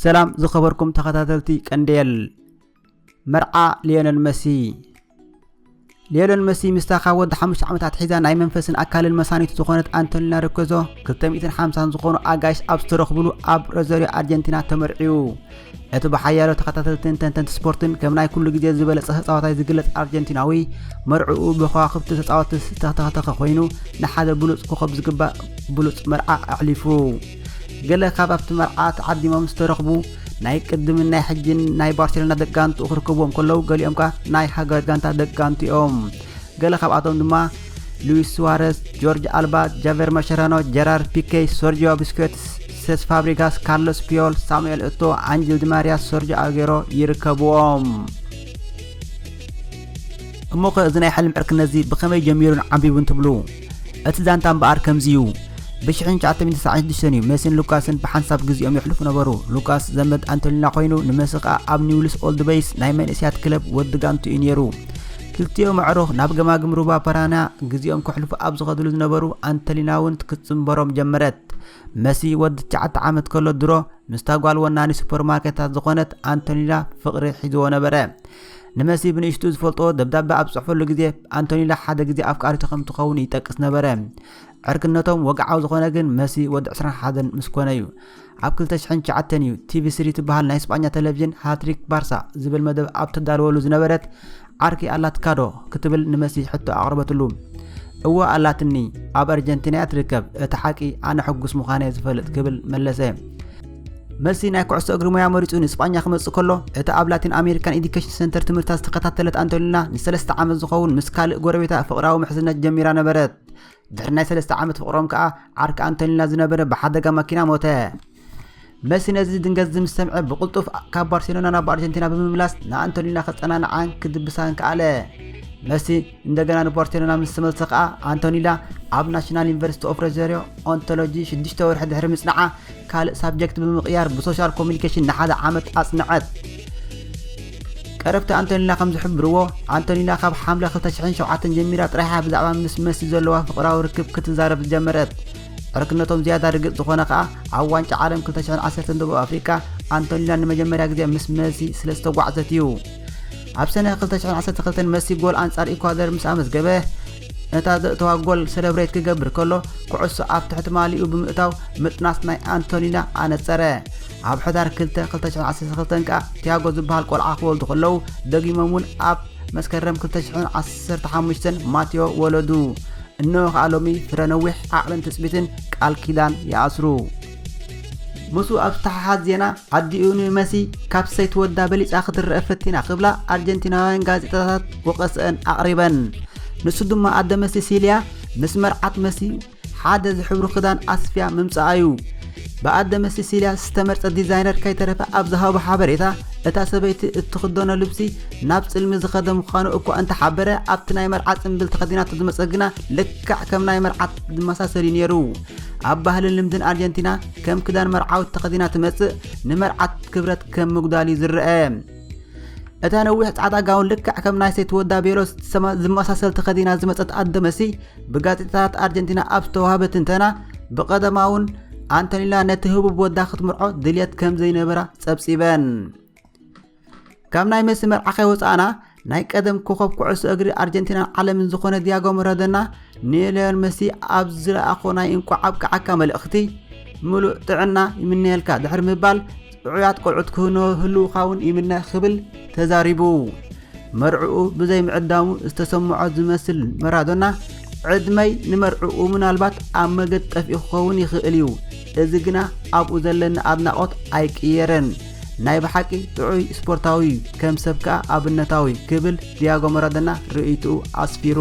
ሰላም ዝኸበርኩም ተኸታተልቲ ቀንዴል መርዓ ሊዮነል መሲ ሊዮነል መሲ ምስታ ካብ ወዲ ሓሙሽተ ዓመታት ሒዛ ናይ መንፈስን ኣካልን መሳኒቱ ዝኾነት ኣንቶኒና ርኮዞ 250 ዝኾኑ ኣጋይሽ ኣብ ዝተረኽብሉ ኣብ ሮዘሪዮ ኣርጀንቲና ተመርዕዩ እቲ ብሓያሎ ተኸታተልትን ተንተንቲ ስፖርትን ከም ናይ ኩሉ ግዜ ዝበለጸ ተጻዋታይ ዝግለጽ ኣርጀንቲናዊ መርዕኡ ብከዋኽብቲ ተጻወቲ ዝተተኸተኸ ኮይኑ ንሓደ ብሉጽ ኮኸብ ዝግባእ ብሉጽ መርዓ ኣሕሊፉ ገለ ካብ ኣብቲ መርዓ ተዓዲሞም ዝተረኽቡ ናይ ቅድምን ናይ ሕጂን ናይ ባርሴሎና ደቂ ጋንትኡ ክርከብዎም ከለዉ ገሊኦም ከኣ ናይ ሃገራት ጋንታ ደቂ ጋንቱ እዮም ገለ ካብኣቶም ድማ ሉዊስ ሱዋረስ ጆርጅ ኣልባ ጃቨር ማሸራኖ ጀራር ፒኬይ ሶርጂዮ ብስኬትስ ሴስ ፋብሪጋስ ካርሎስ ፒዮል ሳሙኤል እቶ ኣንጅል ዲማርያ ሶርጆ ኣጌሮ ይርከብዎም እሞ ከ እዚ ናይ ሕልም ዕርክነትዚ ብኸመይ ጀሚሩን ዓቢቡን ትብሉ እቲ ዛንታ እምበኣር ከምዚ እዩ። ብሽሕን ትሽዓተ ሚእቲ ትስዓን ሽዱሽተን እዩ መሲን ሉካስን ብሓንሳብ ግዜኦም የሕልፉ ነበሩ። ሉካስ ዘመድ ኣንቶሊና ኮይኑ ንመሲ ከኣ ኣብ ኒውልስ ኦልድ በይስ ናይ መንእስያት ክለብ ወዲ ጋንቱ እዩ ነይሩ። ክልቲኦም ኣዕሩኽ ናብ ገማግም ሩባ ፓራና ግዜኦም ከሕልፉ ኣብ ዝኸድሉ ዝነበሩ ኣንቶሊና እውን ክትጽንበሮም ጀመረት። መሲ ወዲ ትሽዓተ ዓመት ከሎ ድሮ ምስታ ጓል ወናኒ ሱፐርማርኬታት ዝኾነት ኣንቶሊና ፍቕሪ ሒዝዎ ነበረ። ንመሲ ብንእሽቱ ዝፈልጦ ደብዳበ ኣብ ዝጽሕፈሉ ግዜ ኣንቶኒላ ሓደ ግዜ ኣፍቃሪቱ ከም ትኸውን ይጠቅስ ነበረ። ዕርክነቶም ወግዓዊ ዝኾነ ግን መሲ ወዲ 21 ምስ ኮነ እዩ። ኣብ 2009 እዩ ቲቪ3 ትበሃል ናይ ስጳኛ ቴሌቪዥን ሃትሪክ ባርሳ ዝብል መደብ ኣብ ተዳልወሉ ዝነበረት ዓርኪ ኣላትካዶ ክትብል ንመሲ ሕቶ ኣቕረበትሉ። እወ ኣላትኒ ኣብ ኣርጀንቲና እያ ትርከብ እቲ ሓቂ ኣነ ሕጉስ ምዃነ ዝፈልጥ ክብል መለሰ መልሲ ናይ ኩዕሶ እግሪ ሞያ መሪጹ ንስጳኛ ክመጽእ ከሎ፣ እታ ኣብ ላቲን ኣሜሪካን ኤዲኬሽን ሰንተር ትምህርታ ዝተኸታተለት ኣንቶኒና ንሰለስተ ዓመት ዝኸውን ምስ ካልእ ጎረቤታ ፍቕራዊ ምሕዝነት ጀሚራ ነበረት። ድሕሪ ናይ ሰለስተ ዓመት ፍቕሮም ከኣ ዓርኪ ኣንቶኒና ዝነበረ ብሓደጋ ማኪና ሞተ። መሲ ነዚ ድንገዝዚ ምስ ሰምዐ ብቕልጡፍ ካብ ባርሴሎና ናብ ኣርጀንቲና ብምምላስ ንኣንቶኒና ከጸናንዓን ክድብሳን ከኣለ። መሲ እንደገና ንፖርቴሎና ምስ ተመልሰ ከኣ ኣንቶኒዳ ኣብ ናሽናል ዩኒቨርሲቲ ኦፍ ሮዘሪዮ ኦንቶሎጂ ሽዱሽተ ወርሒ ድሕሪ ምጽናዓ ካልእ ሳብጀክት ብምቕያር ብሶሻል ኮሚኒኬሽን ንሓደ ዓመት ኣጽንዐት ቀረብቲ ኣንቶኒና ከም ዝሕብርዎ ኣንቶኒና ካብ ሓምለ 2007 ጀሚራ ጥራይሓ ብዛዕባ ምስ መሲ ዘለዋ ፍቕራዊ ርክብ ክትዛረብ ዝጀመረት ዕርክነቶም ዝያዳ ርግጽ ዝኾነ ከኣ ኣብ ዋንጫ ዓለም 2010 ደቡብ ኣፍሪቃ ኣንቶኒና ንመጀመርያ ግዜ ምስ መሲ ስለ ዝተጓዕዘት እዩ ኣብ ሰነ 2012 መሲ ጎል ኣንጻር ኢኳደር ምስ ኣመዝገበ ነታ ዘእተዋ ጎል ሰለብሬት ክገብር ከሎ ኩዕሶ ኣብ ትሕቲ ማሊኡ ብምእታው ምጥናስ ናይ ኣንቶኒና ኣነጸረ ኣብ ሕዳር 2 2012 ከኣ ቲያጎ ዝበሃል ቆልዓ ክወልዱ ከለዉ ደጊሞም እውን ኣብ መስከረም 2015 ማቴዎ ወለዱ እነሆ ከኣ ሎሚ ፍረ ነዊሕ ዓቕልን ትጽቢትን ቃል ኪዳን ይኣስሩ ምስኡ ኣብ ዝተሓሓዝ ዜና ዓዲኡ ንመሲ ካብ ሰይቲ ወዳ በሊጻ ክትረአ ፈቲና ክብላ ኣርጀንቲናውያን ጋዜጣታት ወቐሰአን ኣቕሪበን። ንሱ ድማ ኣደ መሲ ሲልያ ምስ መርዓት መሲ ሓደ ዝሕብሩ ክዳን ኣስፍያ ምምጻኣ እዩ። ብኣደ መሲ ሲልያ ዝተመርጸ ዲዛይነር ከይተረፈ ኣብ ዝሃቦ ሓበሬታ እታ ሰበይቲ እትኽደኖ ልብሲ ናብ ጽልሚ ዝኸደ ምዃኑ እኳ እንተሓበረ ኣብቲ ናይ መርዓ ጽምብል ተኸዲናቶ ዝመጸ ግና ልክዕ ከም ናይ መርዓት ዝመሳሰል እዩ ነይሩ። ኣብ ባህልን ልምድን ኣርጀንቲና ከም ክዳን መርዓውት ተኸዲና ትመጽእ ንመርዓት ክብረት ከም ምጉዳል እዩ ዝረአ እታ ነዊሕ ጻዕዳ ጋውን ልክዕ ከም ናይ ሴት ወዳ ቤሎ ዝመሳሰል ተኸዲና ዝመጸት ኣደ መሲ ብጋዜጣታት ኣርጀንቲና ኣብ ዝተዋህበ ትንተና ብቐደማ እውን ኣንቶኒላ ነቲ ህቡብ ወዳ ክትምርዖ ድልየት ከም ዘይነበራ ጸብጺበን ካብ ናይ መሲ መርዓ ከይወፃእና ናይ ቀደም ኮኸብ ኩዕሶ እግሪ ኣርጀንቲናን ዓለምን ዝኾነ ዲያጎ መረደና ንለዮን መሲ ኣብ ዝለኣኾ ናይ እንቋዕ ኣብቅዓካ መልእኽቲ ምሉእ ጥዕና ይምነየልካ ድሕሪ ምባል ጥዑያት ቆልዑት ክህልውካ እውን ይምነ ክብል ተዛሪቡ መርዕኡ ብዘይ ምዕዳሙ ዝተሰምዖ ዝመስል መራዶና ዕድመይ ንመርዕኡ ምናልባት ኣብ መገድ ጠፊኡ ክኸውን ይኽእል እዩ እዚ ግና ኣብኡ ዘለኒ ኣድናቖት ኣይቅየረን ናይ ብሓቂ ጥዑይ ስፖርታዊ እዩ፣ ከም ሰብ ከኣ ኣብነታዊ ክብል ዲያጎ መራዶና ርእይትኡ ኣስፊሩ።